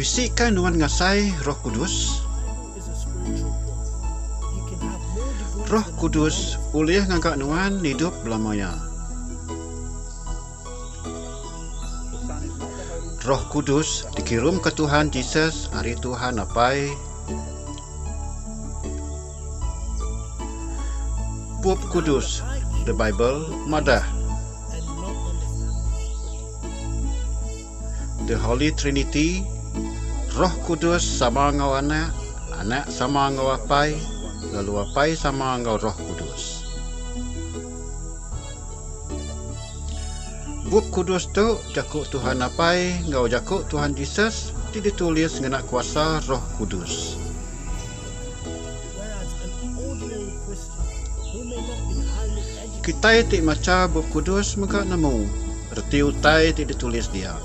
Bisika nuan ngasai Roh Kudus? Roh Kudus ulih ngaga nuan idup belama iya. Roh Kudus dikirumka Tuhan Jesus ari Tuhan Apai. Bup Kudus, The Bible, madah, The Holy Trinity, Roh Kudus sama enggau Anak, Anak sama enggau Apai, lalu Apai sama enggau Roh Kudus. Bup Kudus tu Jaku Tuhan Apai enggau Jaku Tuhan Jesus ti ditulis ngena kuasa Roh Kudus. Kitai ti macha Bup Kudus mega nemu reti utai ti ditulis dia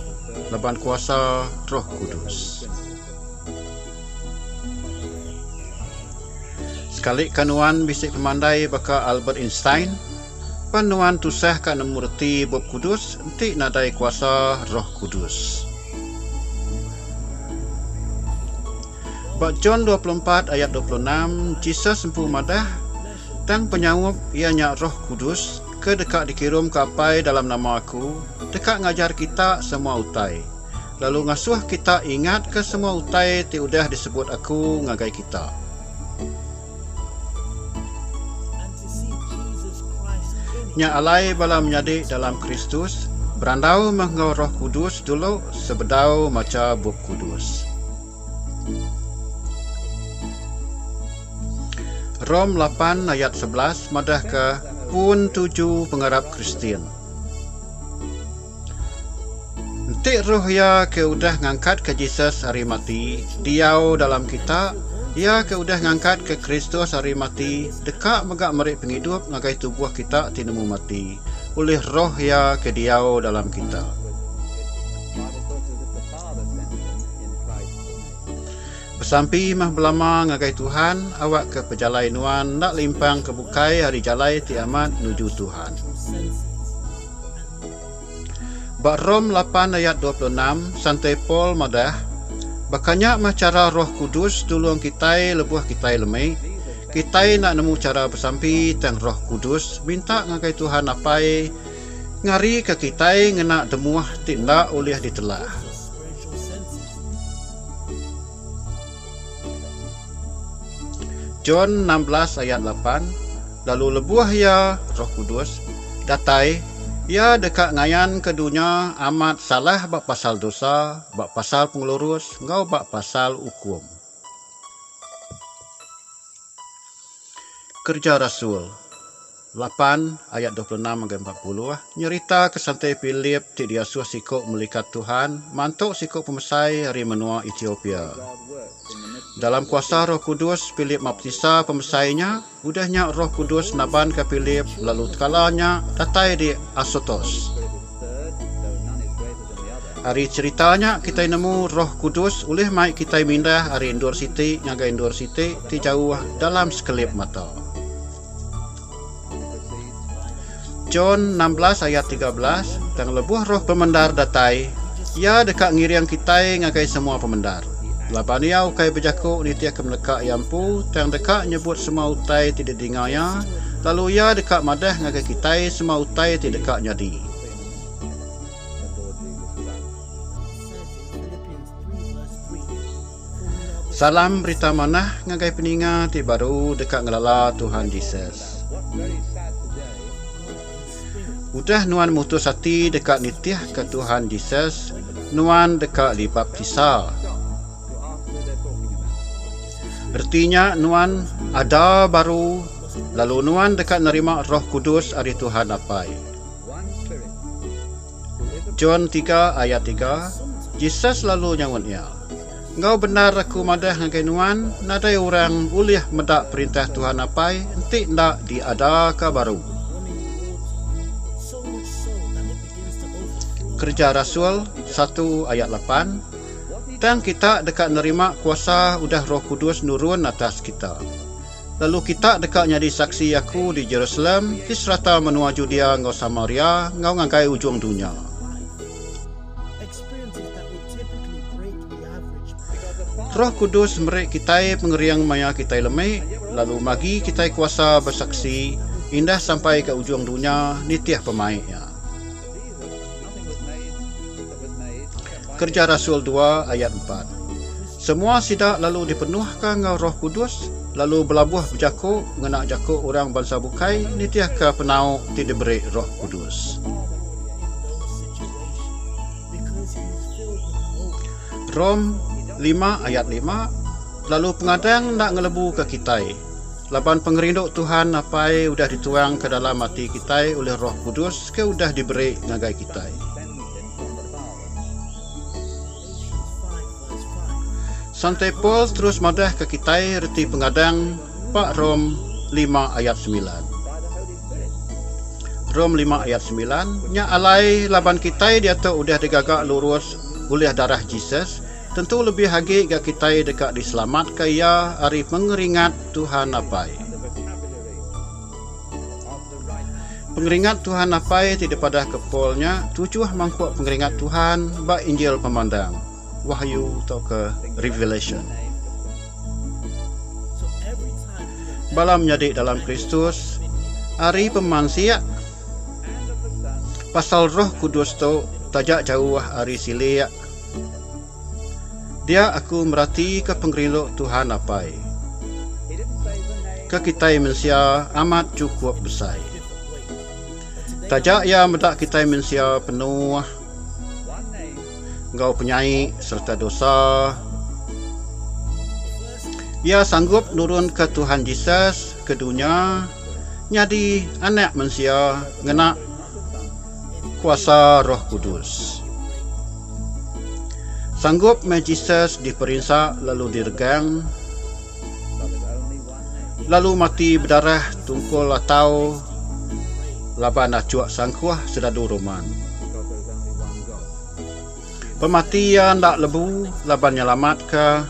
laban kuasa Roh Kudus. Sekali ka nuan bisi pemandai baka Albert Einstein, pan nuan tusah ka nemu reti Bup Kudus enti nadai kuasa Roh Kudus. Ba John dua puluh empat ayat dua puluh enam, Jesus empu madah, Tang penyaup, iya nya Roh Kudus, ke deka dikirum ke Apai dalam nama aku, deka ngajar kita semua utai. lalu ngasuh kita ingatka semua utai ti udah disebut aku ngagai kita. Nya alai bala menyadi dalam Kristus, berandau meh enggau Roh Kudus dulu sebedau macha Bup Kudus. Rom lapan ayat sebelas madahka pun tuju pengarap Kristian. Enti roh iya ke udah ngangkatka Jesus ari mati diau dalam kita, iya ke udah ngangkatka Kristus ari mati deka mega meri pengidup ngagai tubuh kita ti nemu mati ulih roh iya ke diau dalam kita. Besampi meh belama ngagai Tuhan awakka pejalai nuan enda limpang ke bukai ari jalai ti amat nuju Tuhan. Ba Rom lapan ayat dua puluh enam, Santo Paul madah, Baka nya meh chara Roh Kudus nulung kitai lebuh kitai lemi, kitai enda nemu chara besampi tang Roh Kudus minta ngagai Tuhan Apai ngarika kitai ngena temuh ti enda ulih ditelah. John enam belas ayat lapan Lalu lebuh iya, Roh Kudus, datai, iya deka ngayanka dunya amat salah ba pasal dosa, ba pasal pengelurus, enggau ba pasal ukum. Kereja Rasul. lapan ayat dua puluh enam ngagai empat puluh nyeritaka santi Philip ti diasuh siku melikat Tuhan mantu siku pemesai ari menua Etiopia. Dalam kuasa Roh Kudus, Philip maptisa pemesai nya, udah nya Roh Kudus nabanka Philip lalu tekala nya datai di Asotos. Ari cherita nya kitai nemu Roh Kudus ulih mai kitai mindah ari endur siti ngagai endur siti ti jauh dalam sekelip mata. John enam belas ayat tiga belas Tang lebuh roh pemendar datai, iya deka ngiring kitai ngagai semua pemendar. Laban iya ukai bejaku nitihka meleka iya empu, tang deka nyebut semua utai ti didinga iya, lalu iya deka madah ngagai kitai semua utai ti deka nyadi. Salam berita manah ngagai peninga ti baru deka ngelala Tuhan Jesus. Udah nuan mutus ati deka nitihka Tuhan Jesus, nuan deka dibaptisa. Reti nya nuan ada baru lalu nuan deka nerima Roh Kudus ari Tuhan Apai. John tiga ayat tiga, Jesus lalu nyaut iya, Enggau bendar Aku madah ngagai nuan, nadai orang ulih meda Perintah Tuhan Apai enti enda diadaka baru. Kereja Rasul satu ayat lapan, Tang kita deka nerima kuasa udah Roh Kudus nurun atas kita. Lalu kita deka nyadi saksi Aku di Jerusalem, di serata menua Judea enggau Samaria, enggau ngagai ujung dunya. Roh Kudus meri kitai pengering maya kitai lemi, lalu bagi kitai kuasa besaksi indah sampai ke ujung dunya nitih pemaik iya. Kereja Rasul dua ayat empat. Semua sida lalu dipenuhka enggau Roh Kudus lalu belabuh bejaku ngena jaku orang bansa bukai nitihka penau ti diberi Roh Kudus. Rom lima ayat lima Lalu pengadang enda ngelebuka kitai, laban pengerindu Tuhan Apai udah dituangka dalam ati kitai ulih Roh Kudus ke udah diberi ngagai kitai. Santai Paul terus madah ke kitai reti pengadang pa Rom lima ayat semilan. Rom lima ayat semilan, nya alai laban kitai diatu udah digaga lurus ulih darah Jesus, tentu lebih agi ga kitai deka diselamatka iya ari pengeringat Tuhan apai. Pengeringat Tuhan apai ti dipadahka Paul nya tujuh mangkuk pengeringat Tuhan ba Injil pemandang, wahyu tauka revelation. Bala menyadi dalam Kristus ari pemansik pasal Roh Kudus tu taja jauh ari silik. Dia aku meratika pengerindu Tuhan Apai. Ke kitai mensia amat chukup besai. Taja iya meda kitai mensia penuh enggau penyai sereta dosa, iya sanggup nurunka Tuhan Jesus ke dunya nyadi Anak Mensia ngena Kuasa Roh Kudus. Sanggup meh Jesus diperinsa lalu diregang, lalu mati bedarah tungkul atau laban achuk sangkuh seradu Roman. Pemati iya enda lebu laban nyelamatka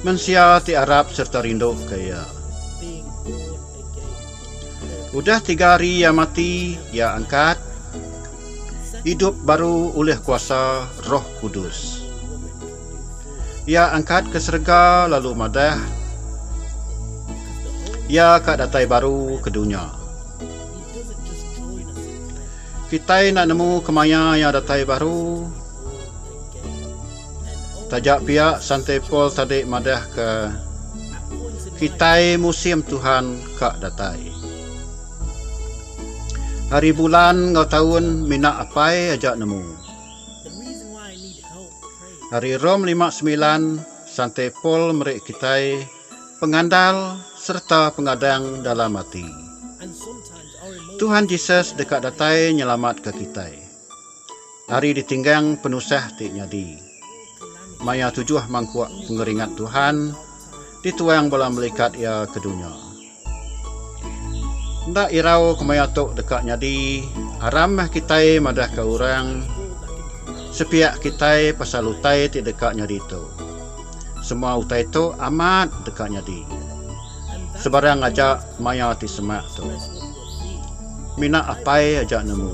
mensia ti arap sereta rinduka iya. Udah tiga hari iya mati, iya angkat idup baru ulih kuasa Roh Kudus. Iya angkat ke serega lalu madah iya ka datai baru ke dunya. Kitai enda nemu kemaya iya datai baru. Taja pia, Santi Paul tadi madahka, Kitai musim Tuhan ka datai. Hari bulan enggau taun mina apai aja nemu. Ari Rome lima semilan, Santi Paul meri kitai pengandal sereta pengadang dalam ati. Tuhan Jesus deka datai nyelamatka kitai. Ari ditinggang penusah ti nyadi. Maya tujuh mangkuk pengeringat Tuhan dituang bala melikat Iya ke dunya. Enda irau kemaya tu deka nyadi, aram meh kitai madahka orang sepiak kitai pasal utai ti deka nyadi tu. Semua utai tu amat deka nyadi. Sebarang aja maya ti semak tu. Mina apai aja nemu.